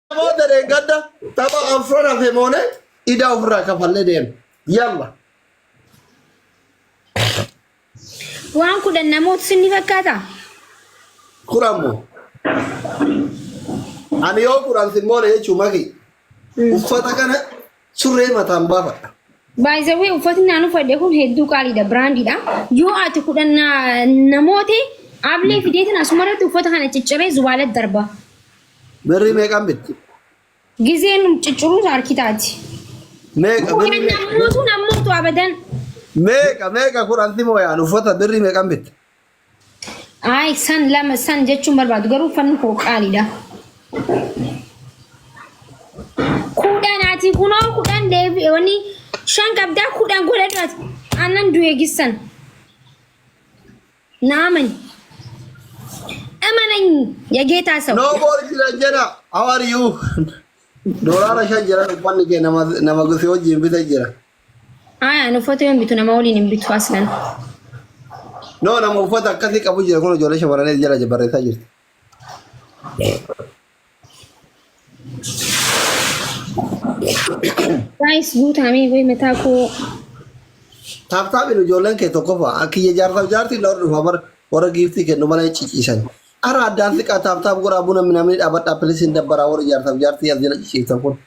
Namoota deeggadda tapha afran hafe moone idaa ofirraa kafallee deema. Yalla. Waan kudhan namoota sinni fakkaata? Kudhan moo. Ani yoo kudhan sin moone jechuu maki. Uffata kana Surree mataan baafadha. Baay'isawwee uffatni naan uffadhe kun hedduu qaaliidha biraandiidha. Yoo ati kudhan na- namoote ablee fideetiin asumarratti uffata kana cicciree zubaalatti darba. Birrii meeqaan bitti? Gizeen cicciruus harki taati. Meeqa birrii Kudhan meeqa? namootu namootu abadan. Meeqa meeqa kudhan simoo yaan uffata birrii meeqaan bitti? Ayi san lama san jechuun barbaadu garuu uffanni koo qaaliidha. Kudhan ati kunoo kudhan deebi wani shan qabdaa kudhan godhadhu ati aannan du'e gissan. Naaman. Amanany yageetaa sawu. No more jira jira. How are you? Doolaara shan jira uffanni kee nama nama gusii wajjin bita jira. Aya an uffata yoon bitu nama waliin hin bitu aslan. No nama uffata akkasii qabu jira kun ijoollee shamarranii jala barreessaa jirti. Guys guutamee way mataa koo Taaptaabiin ijoolleen kee tokkoffaa akka ija jaarsaaf jaartiin dhawar dhufa bar warra giiftii kennu malee ciciisan. Ara addaan xiqqaa taaptaab godhaa buna minamni dhaabadhaa pilis hin dabbaraa warra jaarsaaf jaartii as jala ciciiftan kun.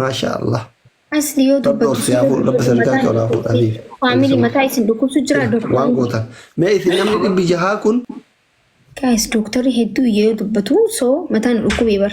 Maashaa Allah. Asli yoo Rabbi dubbatu. obsi haa fuudhu, Rabbi sadarkaa kee ol haa fuudhu, Aliif. Faamilii mataa isin dhukkubsu jira Waan doktar. gootan. Mee isin namni dhibbi jahaa kun Guys doktarri hedduu iyya yoo dubbatu so mataan dhukkubee bar.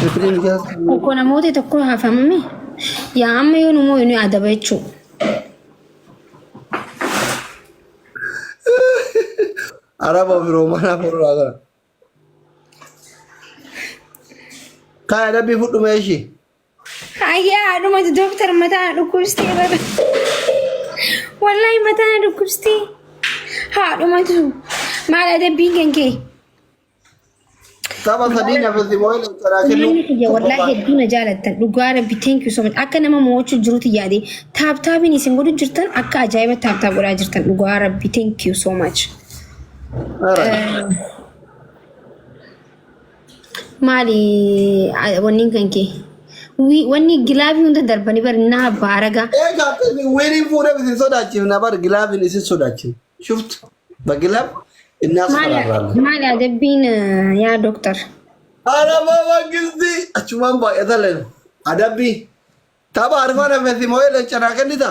Shukriin ijaa Tokko namoota tokko hafamame yaa amma yoo nu moo'inu adaba jechuu. araba ofiroo mana afurraa kana. Kaa adabbii fudhu mee ishii. Ayyaa haadhumatu dooktar mataa na dhukkubstee bara. Wallaahi mataa na dhukkubstee. Haadhumatu maal adabbiin kan kee? Tapha sadii nafasi moo illee caraa Manni kennuu. kiyya wallaahi hedduu na jaalattan dhugaa rabbi thank you so much akka nama mo'achuu jirutti yaade taaptaabiin isin godhu jirtan akka ajaa'iba taaptaap godhaa jirtan dhugaa rabbi thank you so much. Maali wanni kan kee? Wanni gilaafii hunda darbanii bari naa baaraga. Egaa akkasii wiriin fuudhee isin sodaachifna bar gilaafiin isin sodaachifna. Shuftu bagilaaf innaas Maali faraarraa. maali adabbiin yaa doktar? Arabaa mangisti achumaan baay'ata leen adabbii tapha arfaan hafeetti moo'ee leencanaa kennita.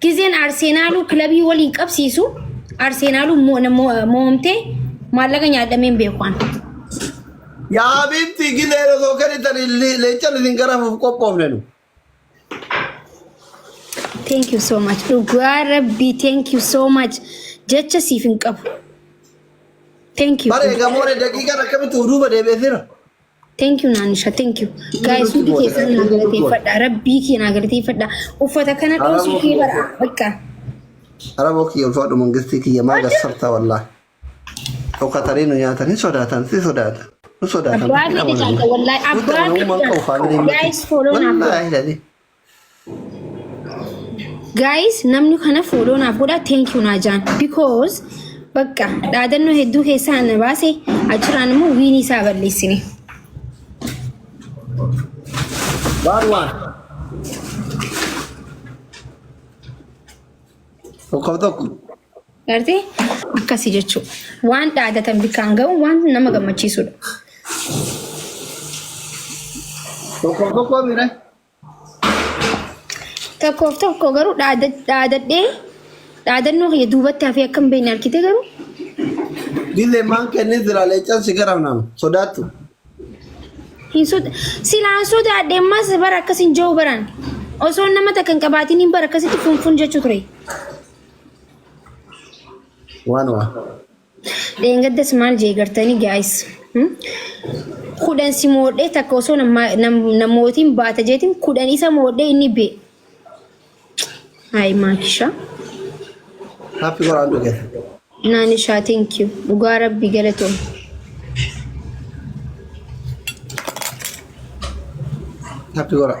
Gizeen Arseenaaluu kilabii waliin qabsiisu Arseenaaluu mo'amtee maallaqa nyaadhameen beekuwaan. Yaa Habiibti gilee osoo kennitan leencan isin garafuuf qophoofne nu. Thank you so much. Dhugaa rabbii thank you so much. Jecha siif hin qabu. Thank you. Bare gamoone daqiiqaan akkamitti duuba deebi'eefira. Thank you Naanisha, thank you. Guys, hundi keessan naa galateeffadha. Rabbii kee naa galateeffadha. Uffata kana dhoosuu kee bara. Bakka. Araboo kiyya ulfaadhu mangistii kiyya maa gassarta wallaa. Dhokatanii nu nyaatanii sodaatan si sodaata. Nu sodaatan. Abbaa kee caalta wallaahi. Abbaa kee caalta. Guys, follow naa godha. Wallaahi. Guys, namni kana follow naaf godha thank you Naajaan because bakka dhaadannoo hedduu keessaa na baase achirraan immoo wiinii isaa balleessine. Waan waan. Tokko tokko. Gartee akkasii jechuudha. Waan dhaadatan bakkaan ga'u waan nama gammachiisudha. Tokko tokko mire. Tokkoof tokko garuu dhaada- dhaadadhee dhaadannoo kiyya duubatti hafee akka hin beekne argite garuu Gile man kene zira le chan sigara nam. Sodatu. hin soda silaan sodaadhe ammas bara akkas hin jiru baran osoo nama takka hin qabaatiin hin bara akkasitti funfun jechuu ture. Wan wan. Dheengaddas maal jee gartanii guys kudhan si moodhee takka osoo namootiin baata jeetiin kudhan isa moodhee inni bee. Hayi maakisha. Happy Quran together. Naanishaa thank you dhugaa rabbi galatoom. Happy Quran.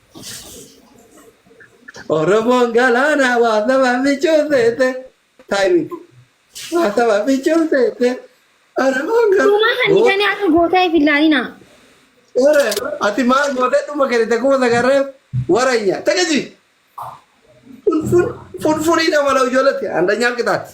Oromoon galaanaa waa saba michuu seete. Taayimii. Waa saba michuu seete. Oromoon Uumaa kan galaanaa. isanii akka gootaa if ilaalinaa. Ore, ati maal gootee dhuma kennite kuma sagarreef waranya. Tagaji! Funfun, funfunii dha mala ijoolletti. Andanyaan qixaatti.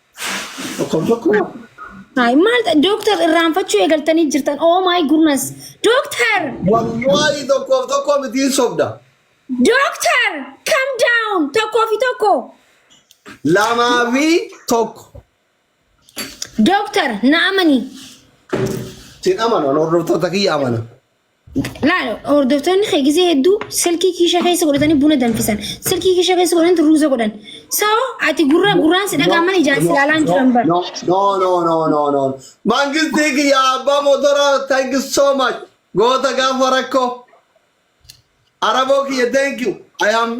Tokkoon tokko Ay, maal ta- dooktar irraanfachuu eegaltanii jirtan. Oh my goodness. Dooktar! wallahi tokkoof tokko mitiin sobda. Dooktar! Come down! Tokkoo fi tokko. Lamaa fi tokko. Dooktar, na amani. Sin amana hordoftoota kiyya amana. Laal hordoftoonni kee gisee hedduu silkii kiisha keessa godhatanii buna danfisan. Silkii kiisha keessa godhanii ruuza godhan. Sa'oo ati gurra gurraan si dhagaaman ijaan si laalaan jiran bara. No, no, no, no, no, no. Mangistii kiyya abbaa motora thank you so much. Goota gaafa rakkoo. Araboo kiyya thank you. I am